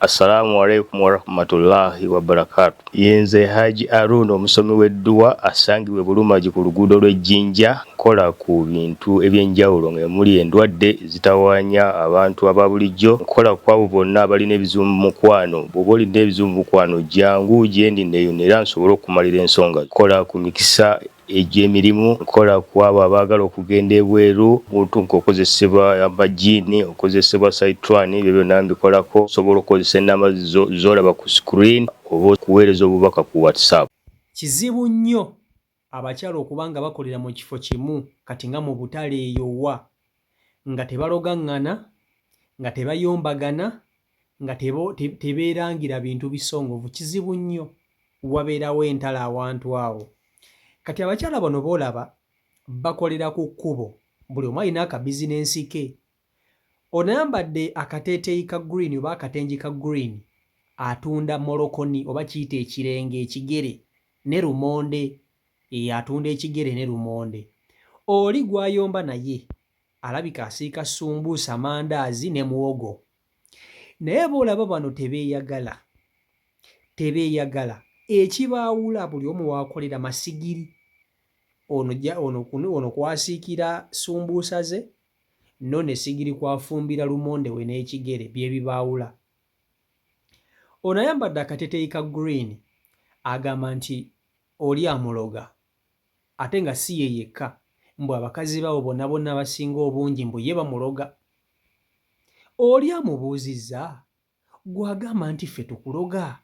Assalamu alaikum warahmatullahi wabarakatu yenze Haji Arun omusomi w'edduwa asangibwa e Bulumagi ku luguudo lw'e Jinja nkola ku bintu eby'enjawulo nga emuli endwadde ezitawaanya abantu aba bulijjo nkola kw'abo bonna abalina ebizibu mu mukwano bw'oba olina ebizibu mu mukwano jangu gyendi nneeyune era nsobole okukumalira ensonga zo nkola ku mikisa Egyo emirimu nkola ku abo abaagala okugenda ebweru, omuntu ng'okozesebwa amajjiini, okozesebwa Sayitwani, ebyo byonna mbikolako. Osobola okukozesa ennamba zo z'olaba ku screen oba okuweereza obubaka ku WhatsApp. Kizibu nnyo abakyala okuba nga bakolera mu kifo kimu kati nga mu butale eyo wa? nga tebalogaŋŋana, nga tebayombagana, nga tebeerangira bintu bisongovu, kizibu nnyo wabeerawo entalo awantu awo. Kati abakyala bano b'olaba bakolera ku kkubo, buli omu alina akabizinensi ke. Ono ayambadde akateeteeyi ka green oba akatengi ka green atunda molokoni oba kiyite ekirenge, ekigere ne lumonde Eeh atunda ekigere ne lumonde. Oli gwayomba naye alabika asiika sumbuusa, mandaazi ne muwogo. Naye bolaba bano tebeyagala. Tebeyagala. Ekibaawula buli omu wakolera masigiri. Ono ja ono ono kwasiikira sumbuusa ze nono esigiri kwafumbira lumonde we n'ekigere byebibaawula. Ono ayambadde akateteeyi ka green agamba nti Oli amuloga ate nga si ye yekka mbu abakazi baabo bona bona abasinga obungi mbu ye bamuloga. Oli amubuuzizza? Gwe agamba nti ffe tukuloga?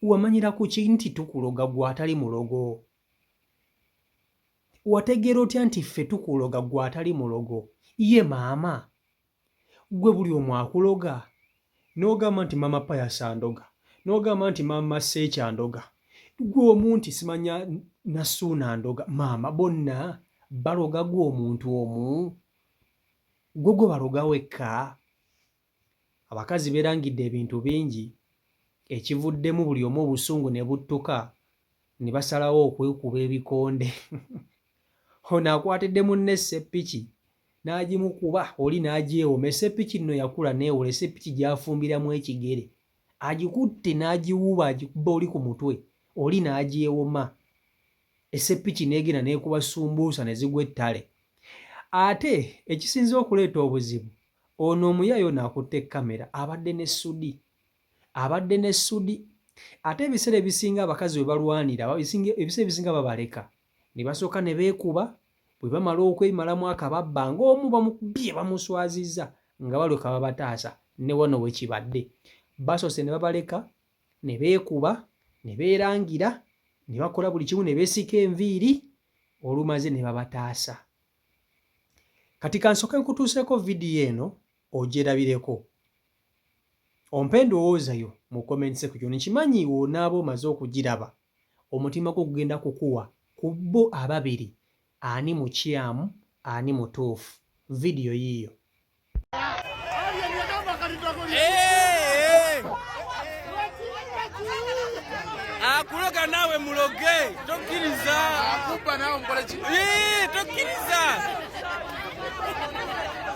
Wamanyira ku ki nti tukuloga gwe atali mulogo? Wategeera otya nti ffe tukuloga gwe atali mulogo? Ye maama? Gwe buli omu akuloga n'ogamba nti maama Pius andoga n'ogamba nti maama Seeki andoga gwe omu nti simanya Nassuuna andoga maama bonna baloga gwe omuntu omu gwe gwe baloga wekka abakazi beerangidde ebintu bingi ekivuddemu buli omu obusungu ne buttuka ne basalawo okwekuba ebikonde Ono akwatidde munne esseppiki n'agimukuba oli n'agyewoma. Esseppiki nno yakula n'ewola. Esseppiki gy'afumbiramu ekigere. Agikutte n'agiwuuba agikubba oli ku mutwe, oli n'agyewoma. Esseppiki n'egenda n'ekuba ssumbuusa ne zigwa ettale. Ate ekisinze okuleeta obuzibu, ono omuyaaye ono akutte kkamera abadde ne ssudi. Abadde ne ssudi. Ate ebiseera ebisinga abakazi we balwanira ebiseera ebisinga babaleka. ne basooka ne beekuba bwe bamala okwemalamu akababba ng'omu bamukubye bamuswazizza nga balyoka babataasa ne wano we kibadde basoose ne babaleka ne beekuba ne beerangira ne bakola buli kimu ne beesika enviiri olumaze ne babataasa kati kansooke nkutuuseeko vidiyo eno ogyerabireko ompe endowooza yo mu comments section nkimanyi wonaaba omaze okugiraba Omutima gwo gugenda kukuwa ku bo ababiri ani mukyamu ani mutuufu. Vidiyo yiiyo. akuloga nawe muloge tokiriza akuba nawe mukoleki tokiriza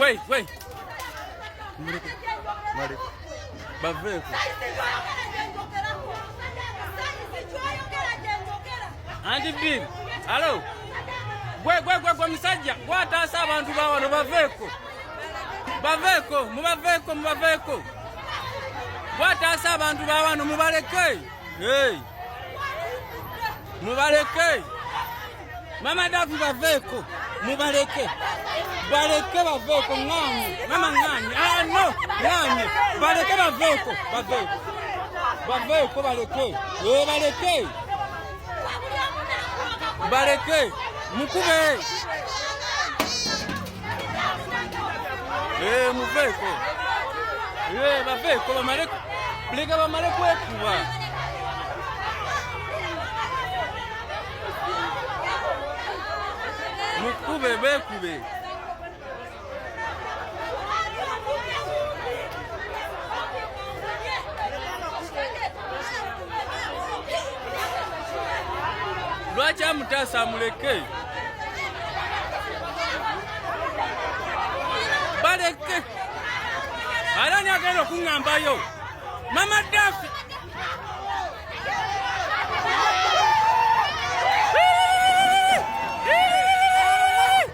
Wait, wait. Malik. Baveko. Anti Bill. Hello. Gwe gwe gwe gwe musajja gwataasa abantu ba wano baveeko baveeko mubaveko. mubaveeko gwataasa abantu ba wano mubaleke Hey. Mubaleke. Mama Davi baveko. Mubaleke. Baleke baveko ngani? Mama ngani? Ah no. Ngani? Baleke baveko. Baveko. Baveko baleke. Eh baleke. Baleke. Mukube. Eh, muveeko eh, baveeko bamale leka bamale kwekuba mukube beekube lwaki amutaasa amuleke baleke ara ni agenda okuŋŋambayo mama dafi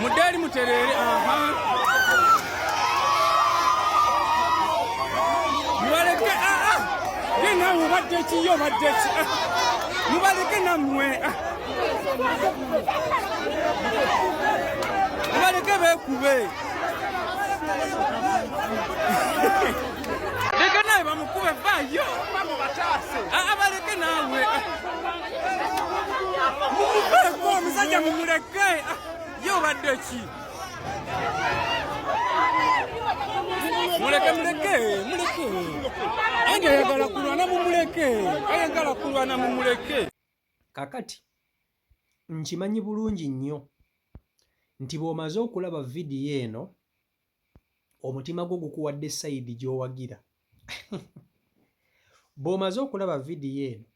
Mudeli muterere aha. Mubaleke a a. Dina mubadde ki yo badde ki. Mubaleke na mwe. Mubaleke be kube. Leka nawe bamukube vayo. Abaleke nawe. omusajja mumuleke ah, ye obadde ki muleke muleke muleke ange ayagala kulwana mumuleke ayagala kulwana mumuleke kakati nkimanyi bulungi nnyo nti bw'omaze okulaba vidiyo eno omutima gwo gukuwadde sayidi gy'owagira bw'omaze okulaba vidiyo eno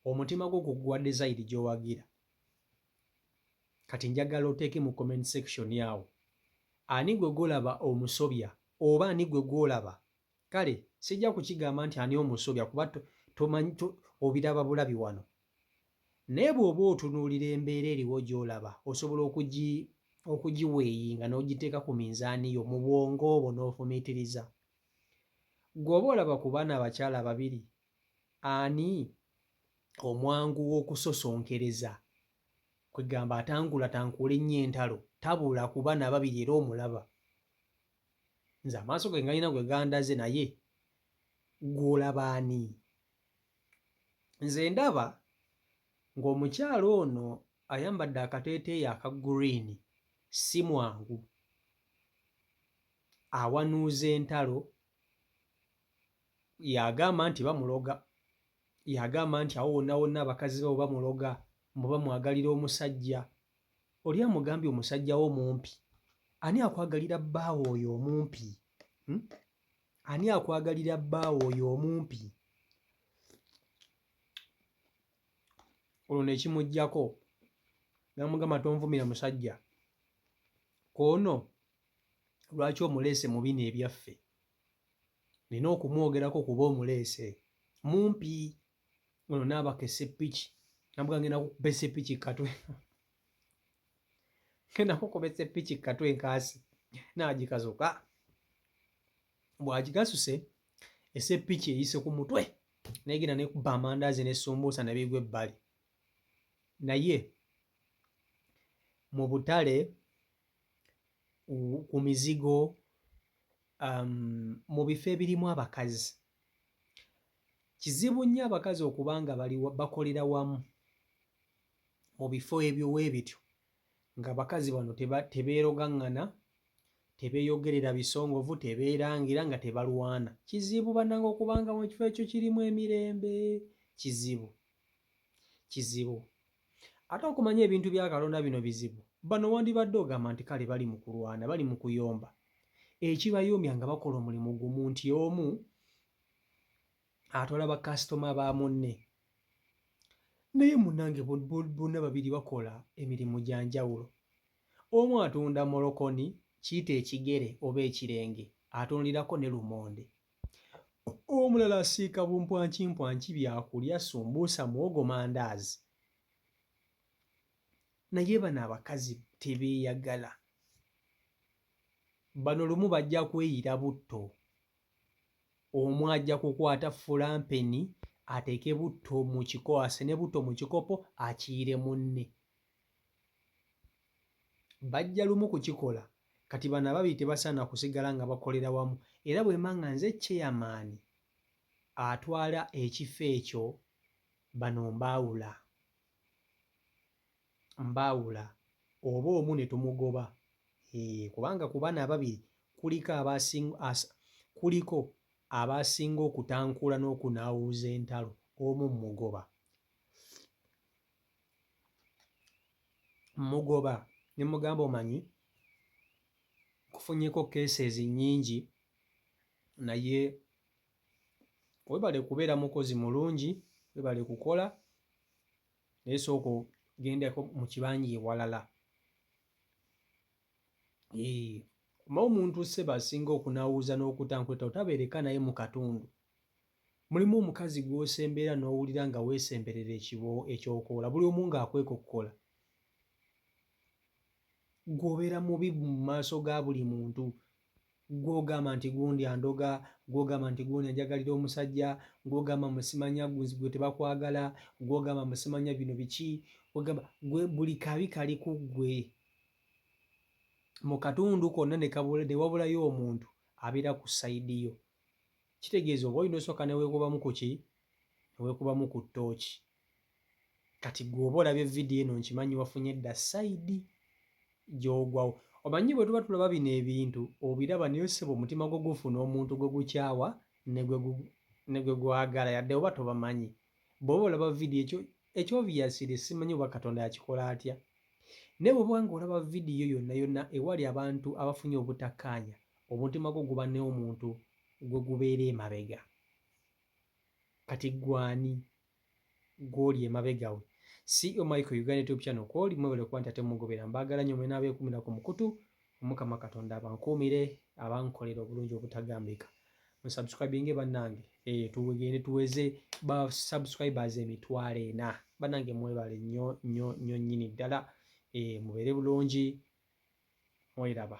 omutima gwo guguwa dezayidi gyowagira kati njagala oteeke mu comment section awo ani gwe golaba omusobya oba ani gwe gwolaba kale sijja kukigamba nti ani omusobya kuba tomanyi obiraba bulabi wano naye bw'oba otunuulira embeera eriwo gy'olaba osobola okugi okugiweeyinga n'ogiteeka ku minzaani yo mu bwongo obwo n'ofumiitiriza gweoba olaba ku baana abakyala babiri ani omwangu w'okusosonkereza, kwegamba atangulatankuula ennyo entalo, tabula kuba nababiri era omulaba. Nze amaaso ge ngalina gwe gandaze naye gwe olaba ani? Nze ndaba ng'omukyala ono ayambadde akateeteeyi aka green si mwangu, awanuuza entalo yagamba nti bamuloga yagamba nti awo wonna wonna abakazi babo bamuloga mbu bamwagalira omusajja oli amugambye omusajja wo mumpi ani akwagalira bbaawo oyo omumpi hmm? ani akwagalira bbaawo oyo omumpi olwo nekimugjako namugamba tonvumira musajja koono lwaki omuleese mu bino ebyaffe Nina okumwogerako kuba omuleese mumpi ono naabaka esepiki nabuga ngenda kukuba esepiki katwe ngenda kukuba esepiki katwe nkaasi naagikazuka bwagigasuse esepiki eyise ku mutwe negenda nekuba amandaazi nesumbuusa nebigwa ebbali naye mu butale ku mizigo Um, mu bifo ebirimu abakazi kizibu nnyo abakazi okuba nga bali bakolera wamu mu bifo ebyo weebityo nga bakazi bano tebeerogaŋŋana tebeeyogerera bisongovu tebeerangira nga tebalwana kizibu bannanga okuba nga mu kifo ekyo kirimu emirembe kizibu kizibu Ate okumanya ebintu bya Katonda bino bizibu. Bano wandibadde ogamba nti kale bali mu kulwana, bali mu kuyomba. Ekibayombya nga bakola omulimu gumu nti omu atwala bakasitoma ba munne. Naye munange bonna babiri bakola emirimu gya njawulo. Omu atunda molokoni, kiyite ekigere oba ekirenge, atundirako ne lumonde. Omulala asiika bumpwankimpwanki byakulya, sumbuusa, muwogo, mandaazi. Naye bano abakazi tebeeyagala. Bano lumu bajja kweyira butto. Omu ajja kukwata fulampeni ateeke butto mu kiko, asene butto mu kikopo akiire munne. bajja lumu kukikola kati bano ababiri tebasaana kusigala nga bakolera wamu era bwemba nga nze chairman atwala ekifo ekyo bano mbaawula mbaawula oba omu ne tumugoba ee kubanga ku bano ababiri kuliko kuliko abaasinga okutankuula n'okunaawuuza entalo omu mmugoba. mmugoba ne mmugamba omanyi nkufunyeko cases nnyingi naye webale kubeera mukozi mulungi webale kukola naye sooka ogendeko mu kibanja ewalala oba omuntu seba asinga okunawuuza n'okuta nkuleta otabeereka naye mu katundu Mulimu omukazi gw'osemberera n'owulira nga weesemberera ekiboowo ekyokoola buli omu ng'akwekokkola. Ggwe obeera mubi mu maaso ga buli muntu. Ggwe ogamba nti gundi andoga, ggwe ogamba nti gundi anjagalira omusajja, ggwe ogamba mbu simanya ggwe tebakwagala, ggwe ogamba mbu simanya bino biki, ogamba ggwe buli kabi kali ku ggwe. Mu katundu konna ne wabulayo omuntu abeera ku sayidi yo. kitegeeza oba olina osooka ne weekubamu ku ki ne weekubamu ku ttooki kati gwe oba olabye vidiyo eno nkimanyi wafunye dda sayidi gy'ogwawo omanyi bwe tuba tulaba bino ebintu obiraba naye oseba omutima gwo gufuna omuntu gwe gukyawa ne gwe gwagala yadde oba tobamanyi bw'oba olaba vidiyo ekyo Ekyo obviously simanyi oba Katonda yakikola atya. Naye bw'oba nga olaba vidiyo yonna yonna ewali abantu abafunye obutakkaanya, omutima gwo guba n'omuntu gwe gubeera emabega. Kati ggwe ani gw'oli emabega we? CEO Michael Uganda YouTube channel kw'oli mwebale kuba nti ate mugobera. Mbaagala nnyo mwenna abeekuumira ku mukutu. omukama katonda abankuumire abankolera obulungi obutagambika musubscribinge bannange eh, tugende tuweze ba subscribers emitwalo ena bannange mwebale nnyo nnyo nnyo nnyini ddala eh, mubeere bulungi mwelaba